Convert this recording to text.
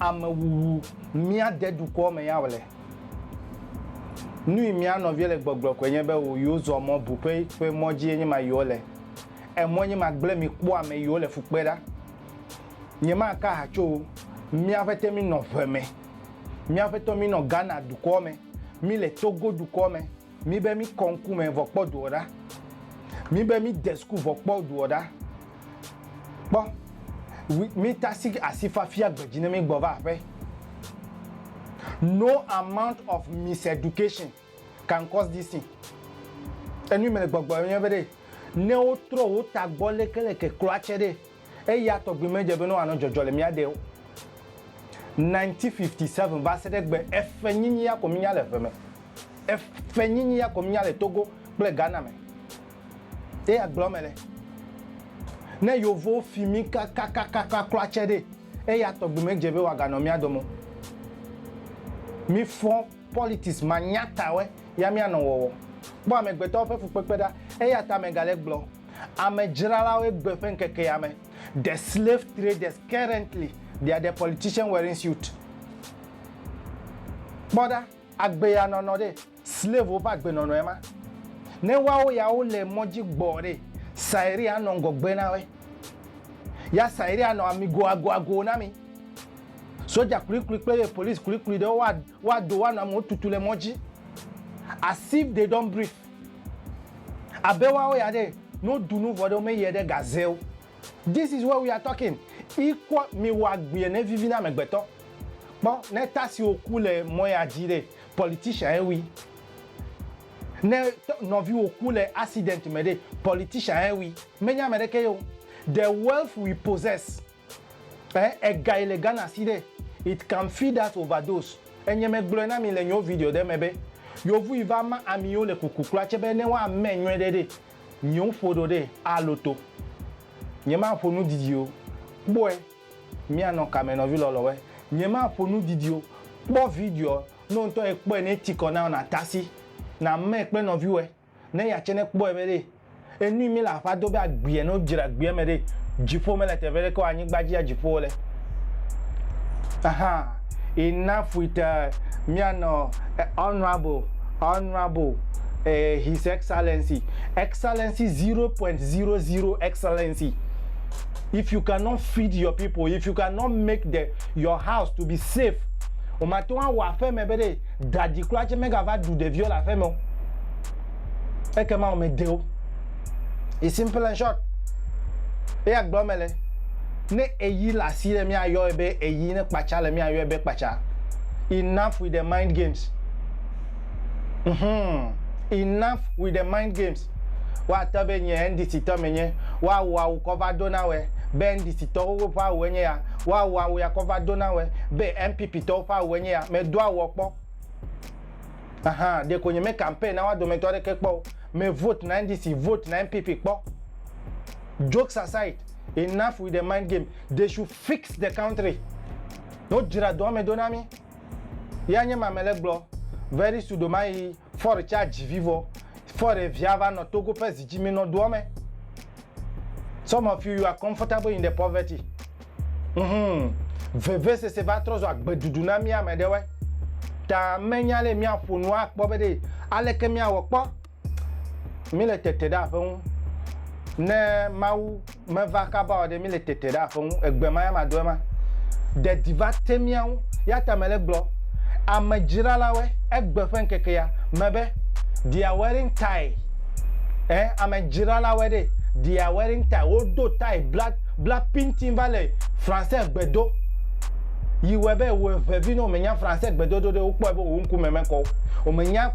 Ame wuwu mia de dukɔ me ya wole. Nui mia nɔvie le gbɔgblɔ koe nye be wo yo zɔ mɔ bu ƒe ƒe mɔ dzi ye nye ma yo le. Emɔ nye ma gble mi kpɔ ame yo le fukpe ɖa. Nye ma ka ha tso mia ƒe te mi nɔ ʋe me. Mia ƒe tɔ mi nɔ Ghana dukɔ me. Mi le Togo dukɔ me. mi be mi kɔ ŋku me vɔ kpɔ doɔ ɖa mi be mi de suku vɔ kpɔ doɔ ɖa kpɔ mi ta si asi fafia gbedzi ne mi gbɔ va aƒe no amount of miseducation can cause this thing enu mi le gbɔgbɔ yɔ be ɖe ne wotrɔ wo ta gbɔ leke leke kloa tse ɖe Eya tɔgbi medze be ne wòanɔ dzɔdzɔ le mía ɖee o. 1957 va se ɖe egbe, efenyinyi ya ko mínya le eve me. Efenyinyi ya ko mínya le Togo kple Ghana me. Ye agblɔ mele. Ne Yevowo fi mí kakakakaka kura tsɛ ɖee, eya tɔgbi medze be wòaganɔ mía dome o. Mífɔ politics manyatatɔe ya míanɔ wɔwɔ. Kpɔ amegbetɔwo ƒe fukpekpe ɖa. Eya ta megale gblɔ. Ame dzralawoe gbe ƒe ŋkeke ya me, the slave traders currently they are the politician wearing suit. Kpɔ ɖa, agbe ya nɔnɔ ɖe, slave wo ƒe agbe nɔnɔ ye ma. Ne woawo ya wo le mɔ dzi gbɔ ɖe, Sairi anɔ ŋgɔgbe na woe. Ya Sairi anɔ amigo ago ago na mi. Soja klikli kple ye police klikli ɖewo wa Woado wo anɔ amewo tutu le mɔ dzi as if they don't breathe. Abe woawo ya ɖe, ne woɖu nu vɔ ɖe, womeyiɛ ɖe gaze o. This is what we are talking. Ikpɔ miwɔ agbee ne vivi na amegbetɔ. Kpɔ ne ta siwo ku le mɔ ya dzi ɖe, politician ye wui. Ne nɔviwo ku le accident me ɖe, politician ye wui. Menye ameɖeke ye o. The wealth we possess Eh egae le Ghana si ɖe it can feed us overdose enye me gblɔe na mi le nyo video ɖe me be yovui va ma amiwo le kuku kura tse be ne woa mɛ nyɔe ɖe ɖe nyo ƒo ɖo ɖe a loto nye ma ƒo nu didi o kpɔe mia nɔ kame nɔvi lɔlɔwɔe nye ma ƒo nu didi o kpɔ videoɔ no ŋtɔ ekpɔe ne tikɔ nao na tasi na mɛ kple nɔviwɔe. ne eya tsɛ nekpɔe be ɖe enui mele aƒea do be agbeɛ ne wodzra agbeɛ me ɖe dziƒo mele teƒe ɖeke o anyigba dzi ya dziƒo wole. Ahaa enough with uh, míanɔ eh, honorable honorable eh, his excellency excellency 0.00 excellency if you cannot feed your people if you cannot make the your house to be safe o mate ŋu awɔ aƒeme be ɖe Da dzi kura tse megava ɖu ɖeviwo le aƒeme o. Ekema wò me de wo. It's simple and short. Eya gblɔ me le. Ne eyi le asi ɖe mía yɔe be eyi ne kpatsa le mía yɔe be kpatsa. Enough with the mind games. Mhmm. Enough with the mind games. Wa te be nye NDC tɔ me nye. Wa wò awu kɔ va do na wɛ. Be NDC tɔ xoxo ƒe awu enye ya. Woawɔ awu ya kɔ va do na wɛ be NPP tɔwo ƒe awue nye ya. Medo awuɔ kpɔ. Ahan, ɖeko nye me campaign na woa dometɔ aɖeke kpɔ o. Me vote na NDC, vote na NPP kpɔ. Jokes aside, enough with the mind game. They should fix the country. Wodzra dɔa me do na mí. Yea nye ma mele gblɔ. Very sudo ma yi Ford tsa dzi vi vɔ. Ford evia va nɔ Togo ƒe zi dzi mi nɔ doɔ me. Some of you you are comfortable in the poverty. Ŋhum. Veve sese va trɔ zu agbe ɖuɖu na mi ame ɖewoe. Ta me nya le mia ƒo nu a kpɔ be ɖe aleke mia wɔ kpɔ. míle tete ɖe aƒe ŋu. Ne Mawu meva kaba o ɖe, míle tete ɖe aƒe ŋu. Egbe ma ya madɔe ma. Ɖeɖi va te mía ŋu. Ya ta mele gblɔ amedzralawoe egbe ƒe ŋkeke ya me be, They are wearing tie. Ẽ, amedzralawoe ɖee. They are wearing tie. Wodo tie bla, bla pintin va le Français gbe do. Yi wɔe be wòeŋe vi ne wòmenya Français gbedodo ɖe, wokpɔe be wò ŋkume mekɔ o. Wòmenya